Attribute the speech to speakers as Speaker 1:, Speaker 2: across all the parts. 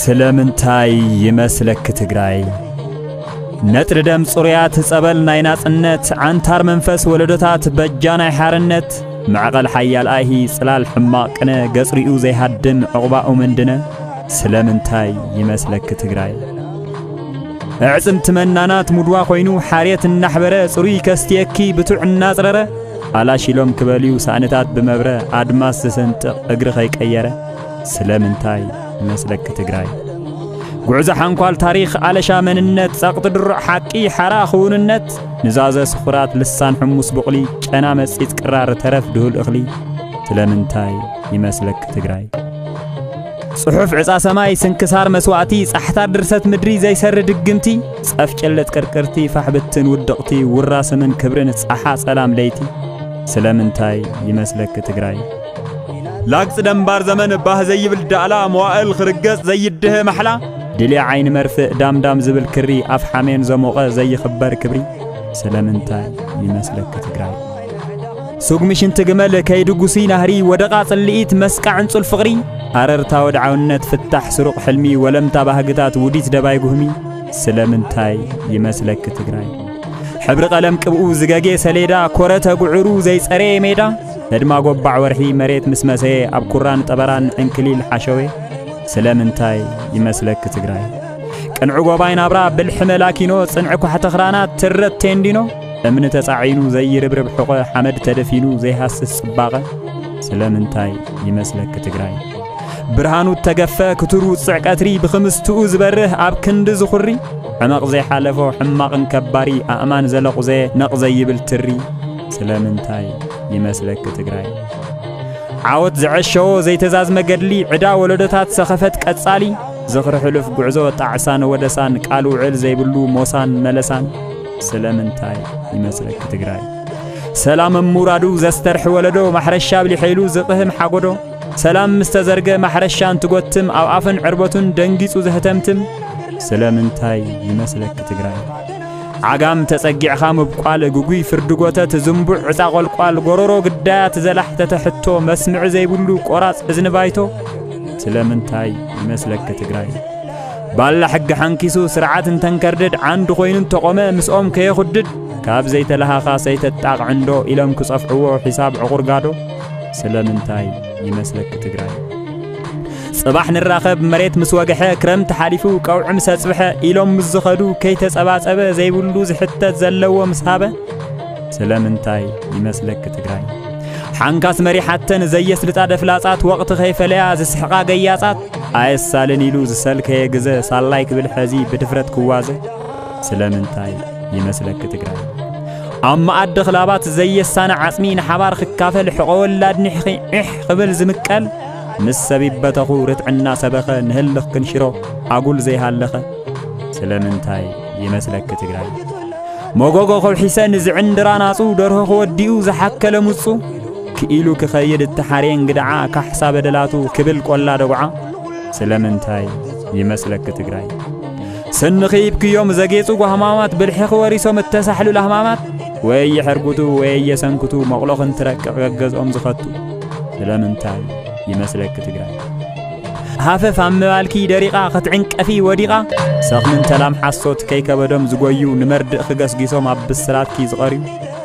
Speaker 1: ስለምንታይ ይመስለኪ ትግራይ ነጥሪ ደም ጽሩያት ጸበል ናይ ናጽነት ዓንታር መንፈስ ወለዶታት በጃ ናይ ሓርነት መዕቐል ሓያል ኣይሂ ጽላል ሕማቕ ቅነ ገጽሪኡ ዘይሃድም ዕቝባኡ ምንድነ ስለምንታይ ይመስለኪ ትግራይ ኣዕጽምቲ መናናት ሙድዋ ኮይኑ ሓርየት እናሕበረ ጽሩይ ከስትየኪ ብቱዕ እናጽረረ ኣላሽሎም ክበልዩ ሳእንታት ብመብረ ኣድማስ ዝሰንጥቕ እግሪ ከይቀየረ ስለምንታይ መስለኪ ትግራይ ጉዕዞ ሓንኳል ታሪኽ ኣለሻ መንነት ጸቕጢ ድሩዕ ሓቂ ሓራ ክውንነት ንዛዘ ስኹራት ልሳን ሕሙስ ብቕሊ ጨና መጺት ቅራር ተረፍ ድሁል እኽሊ ስለምንታይ ይመስለኪ ትግራይ ጽሑፍ ዕጻ ሰማይ ስንክሳር መስዋእቲ ጻሕታ ድርሰት ምድሪ ዘይሰሪ ድግምቲ ጸፍጭልጥ ቅርቅርቲ ፋሕብትን ውድቕቲ ውራ ስምን ክብርን ጻሓ ጸላም ለይቲ ስለምንታይ ይመስለኪ ትግራይ ላግጽ ደንባር ዘመን ባህ ዘይብል ዳእላ መዋእል ክርገጽ ዘይድህ ማሕላ ድሊ ዓይኒ መርፍእ ዳምዳም ዝብል ክሪ ኣፍ ሓሜን ዘሞቐ ዘይኽበር ክብሪ ስለምንታይ ይመስለኪ ትግራይ ስጉሚ ሽንቲ ግመል ከይድጉሲ ናህሪ ወደቓ ጽልኢት መስቃ ዕንጹል ፍቕሪ ኣረርታ ወድዓውነት ፍታሕ ስሩቕ ሕልሚ ወለምታ ባህግታት ውዲት ደባይ ጉህሚ ስለምንታይ ይመስለኪ ትግራይ ሕብሪ ቀለም ቅብኡ ዝገጌ ሰሌዳ ኮረ ተጉዕሩ ዘይጸረየ ሜዳ ህድማ ጎባዕ ወርሒ መሬት ምስ መሰየ ኣብ ኩራን ጠበራን ዕንክሊል ሓሸዌ ስለምንታይ ይመስለኪ ትግራይ ቅንዕ ጎባይ ናብራ ብልሒ መላኪኖ ጽንዕ ኳሕተኽራናት ትረት ቴንዲኖ እምኒ ተጻዒኑ ዘይርብርብ ሕቆ ሓመድ ተደፊኑ ዘይሃስስ ጽባቐ ስለምንታይ ይመስለኪ ትግራይ ብርሃኑ እተገፈ ክትሩ ውፅዕ ቀትሪ ብኽምስትኡ ዝበርህ ኣብ ክንዲ ዝኹሪ ሕመቕ ዘይሓለፎ ሕማቕን ከባሪ ኣእማን ዘለቑዘ ነቕ ዘይብል ትሪ ስለምንታይ ይመስለኪ ትግራይ ዓወት ዘዐሸዎ ዘይተዛዝመ ገድሊ ዕዳ ወለዶታት ሰኸፈት ቀጻሊ ዝኽሪ ሕሉፍ ጉዕዞ ጣዕሳን ወደሳን ቃል ውዕል ዘይብሉ ሞሳን መለሳን ስለምንታይ ይመስለኪ ትግራይ ሰላም እሙራዱ ዘስተርሒ ወለዶ ማሕረሻ ብሊሐይሉ ዝቕህም ሓጎዶ ሰላም ምስ ተዘርገ ማሕረሻ እንትጎትም ኣብ ኣፍን ዕርበቱን ደንጊጹ ዘህተምትም ስለምንታይ ይመስለኪ ትግራይ ዓጋም ተጸጊዕኻ ምብቋል ግጉይ ፍርዲ ጎተት ዝንቡዕ ዕፃ ቆልቋል ጎሮሮ ግዳያ ትዘላሕ ተተሕቶ መስምዒ ዘይብሉ ቆራጽ እዝኒ ባይቶ ስለምንታይ ይመስለኪ ትግራይ ባላ ሕጊ ሓንኪሱ ስርዓት እንተንከርድድ ዓንዲ ኮይኑ እንተቖመ ምስኦም ከየኹድድ ካብ ዘይተለሃኻስ ኣይተጣቕዕንዶ ኢሎም ክጸፍዕዎ ሒሳብ ዕቑርጋዶ ስለምንታይ ይመስለኪ ትግራይ ጽባሕ ንራኸብ መሬት ምስ ወግሐ ክረምቲ ሓሊፉ ቀውዒ ምስ ኣጽብሐ ኢሎም ምስ ዝኸዱ ከይተጸባጸበ ዘይብሉ ዝሕተት ዘለዎ ምስ ሃበ ስለምንታይ ይመስለኪ ትግራይ ሓንካስ መሪሓተን ዘየስልጣ ደፍላጻት ወቕቲ ከይፈለያ ዝስሕቓ ገያጻት ኣየሳልን ኢሉ ዝሰልከየ ግዘ ሳላይ ክብል ሐዚ ብድፍረት ክዋዘ ስለምንታይ ይመስለኪ ትግራይ ኣብ መኣዲ ክላባት ዘየሳነ ዓፅሚ ንሓባር ክካፈል ሕቆ ወላድ ኒሕኺ ዒሕ ክብል ዝምቀል ምስ ሰብ ይበተኹ ርትዕና ሰበኸ ንህልኽ ክንሽሮ ኣጉል ዘይሃለኸ ስለምንታይ ይመስለኪ ትግራይ መጎጎ ከውሒሰ ንዝዕንድራ ናጹ ደርሆ ክወዲኡ ዝሓከለ ሙጹ ክኢሉ ክኸይድ እተሓርየ እንግድዓ ካሕሳ በደላቱ ክብል ቆላ ደጉዓ ስለምንታይ ይመስለኪ ትግራይ ስንኺ ይብክዮም ዘጌጹ ጓህማማት ብልሕኺ ወሪሶም እተሳሕሉ ላህማማት ወይ የሕርጉቱ ወይ የሰንክቱ መቕሎ ክንትረቅቕ ገገዝኦም ዝኸቱ ስለምንታይ ይመስለኪ ትግራይ ሃፈፍ ኣብ ምባልኪ ደሪቓ ክትዕንቀፊ ወዲቓ ሰኽምን ተላም ሓሶት ከይከበዶም ዝጎዩ ንመርድእ ክገስጊሶም ኣብ ብስራትኪ ዝቐርዩ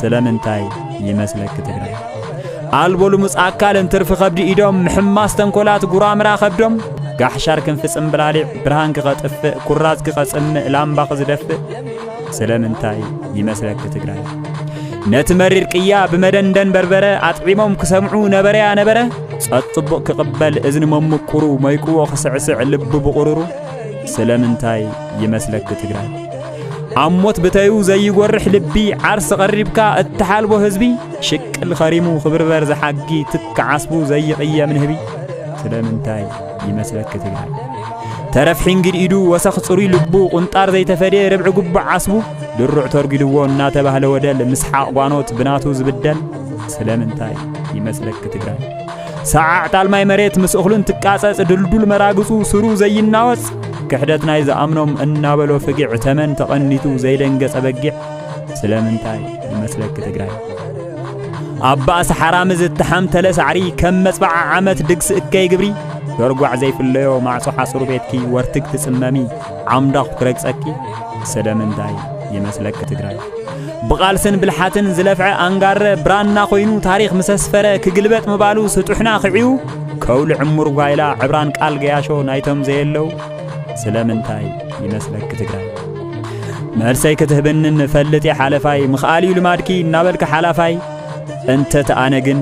Speaker 1: ስለምንታይ ይመስለኪ ትግራይ ኣልቦ ልሙፅ ኣካልን ትርፊ ከብዲ ኢዶም ምሕማስ ተንኮላት ጉራምራ ከብዶም ጋሕሻር ክንፊ ጽምብላሊዕ ብርሃን ክኸጥፍእ ኩራዝ ክኸጽምእ ላምባ ክዝደፍእ ስለምንታይ ይመስለኪ ትግራይ ነቲ መሪር ቅያ ብመደንደን በርበረ ኣጥዒሞም ክሰምዑ ነበረያ ነበረ ጸጥ ጽቡቕ ክቕበል እዝኒ መምቁሩ መይቅዎ ክስዕስዕ ልቢ ብቑሩሩ ስለምንታይ ይመስለኪ ትግራይ ኣብ ሞት ብተዩ ዘይጎርሕ ልቢ ዓርሲ ቀሪብካ እትሓልቦ ህዝቢ ሽቅል ኸሪሙ ክብርበር ዝሓጊ ትክ ዓስቡ ዘይቕየም ንህቢ ስለምንታይ ይመስለኪ ትግራይ ተረፍ ሒንግድ ኢዱ ወሰኽ ጽሩይ ልቡ ቁንጣር ዘይተፈድየ ርብዒ ጉቡዕ ዓስቡ ድሩዕ ተርጊድዎ እናተባህለ ወደል ምስሓቕ ጓኖት ብናቱ ዝብደል ስለምንታይ ይመስለኪ ትግራይ ሰዓዕ ጣልማይ መሬት ምስ እኽሉ እንትቃጸጽ ድልዱል መራግጹ ስሩ ዘይናወጽ ክሕደት ናይ ዝኣምኖም እናበሎ ፍጊዕ ተመን ተቐኒቱ ዘይደንገጸ በጊዕ ስለምንታይ ይመስለኪ ትግራይ ኣብ ባእሲ ሓራሚ ዝተሓምተለ ሳዕሪ ከም መጽባዓ ዓመት ድግሲ እከይ ግብሪ ዶርጓዕ ዘይፍለዮ ማዕጾ ሓጹር ቤትኪ ወርትግ ትጽመሚ ዓምዳኹ ክረግጸኪ ስለምንታይ ይመስለኪ ትግራይ ብቓልስን ብልሓትን ዝለፍዐ ኣንጋረ ብራና ኮይኑ ታሪኽ ምስ ኣስፈረ ክግልበጥ ምባሉ ስጡሕና ክዕዩ ከውሊ ዕሙር ጓይላ ዕብራን ቃል ገያሾ ናይቶም ዘየለው ስለምንታይ ይመስለኪ ትግራይ መልሰይ ክትህብንን ፈልጥ ሓለፋይ ምኽኣል እዩ ልማድኪ እናበልኪ ሓላፋይ እንተ ተኣነ ግን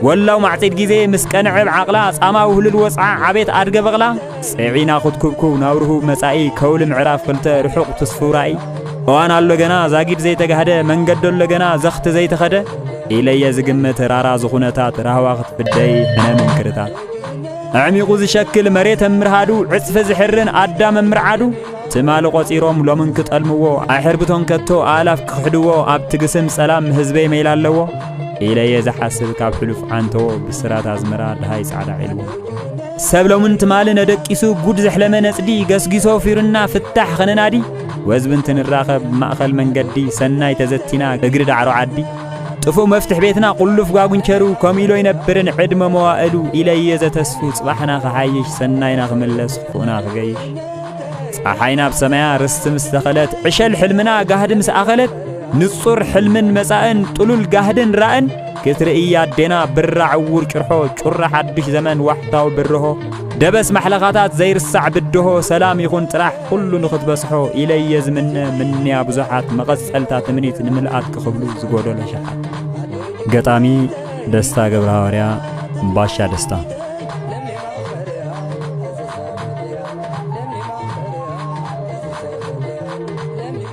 Speaker 1: ወላው ማዕጺድ ግዜ ምስ ቀንዕብ ዓቕላ ጻማ ውህልል ወጽዓ ዓቤት ኣድገ በቕላ ጸዒና ኹትኩብኩብ ናብ ርሁብ መጻኢ ከውሊ ምዕራፍ ክልተ ርሑቕ ትስፉው ራእይ እዋን ኣሎ ገና ዛጊድ ዘይተጋህደ መንገዲ ኣሎ ገና ዘኽቲ ዘይተኸደ ኢለየ ዝግምት ራራ ዝኹነታት ራህዋ ክትፍደይ ሕነ ምንክርታት ኣዕሚቑ ዝሸክል መሬት እምርሃዱ ዕጽፊ ዝሕርን ኣዳም እምርዓዱ ትማሊ ቆጺሮም ሎምን ክጠልምዎ ኣይሕርብቶን ከቶ ኣእላፍ ክኽሕድዎ ኣብ ትግስም ጸላም ህዝበይ መይላ ኣለዎ ኢለየ ዝሓስብ ካብ ሕሉፍ ዓንተዎ ብስራት ኣዝመራ ድሃይ ጻዕዳ ዒልዎ ሰብ ሎምን ትማል ነደቂሱ ጉድ ዘሕለመ ነጽዲ ገስጊሶ ፊሩና ፍታሕ ኸነናዲ ወዝቢ እንትንራኸብ ማእኸል መንገዲ ሰናይ ተዘቲና እግሪ ዳዕሮ ዓዲ ጥፉእ መፍትሕ ቤትና ቁሉፍ ጓጉንቸሩ ከምኡ ኢሎ ይነብርን ዕድመ መዋእሉ ኢለየ ዘተስፉ ጽባሕና ክሓይሽ ሰናይና ክምለስ ክፉእና ክገይሽ ፀሓይ ናብ ሰማያ ርስቲ ምስ ተኸለት ዕሸል ሕልምና ጋህዲ ምስ ኣኸለት ንጹር ሕልምን መጻእን ጥሉል ጋህድን ራእን ክትርእይ ኣዴና ብራ ዕውር ጭርሖ ጩራ ሓድሽ ዘመን ዋሕታዊ ብርሆ ደበስ ማሕለኻታት ዘይርሳዕ ብድሆ ሰላም ይኹን ጥራሕ ኩሉ ንኽትበጽሖ ኢለየ ዝምነ ምንያ ብዙሓት መቐጸልታ ትምኒት ንምልኣት ክኽብሉ ዝጎደሎ ሸሓት ገጣሚ ደስታ ገብረ ሃዋርያ ባሻ ደስታ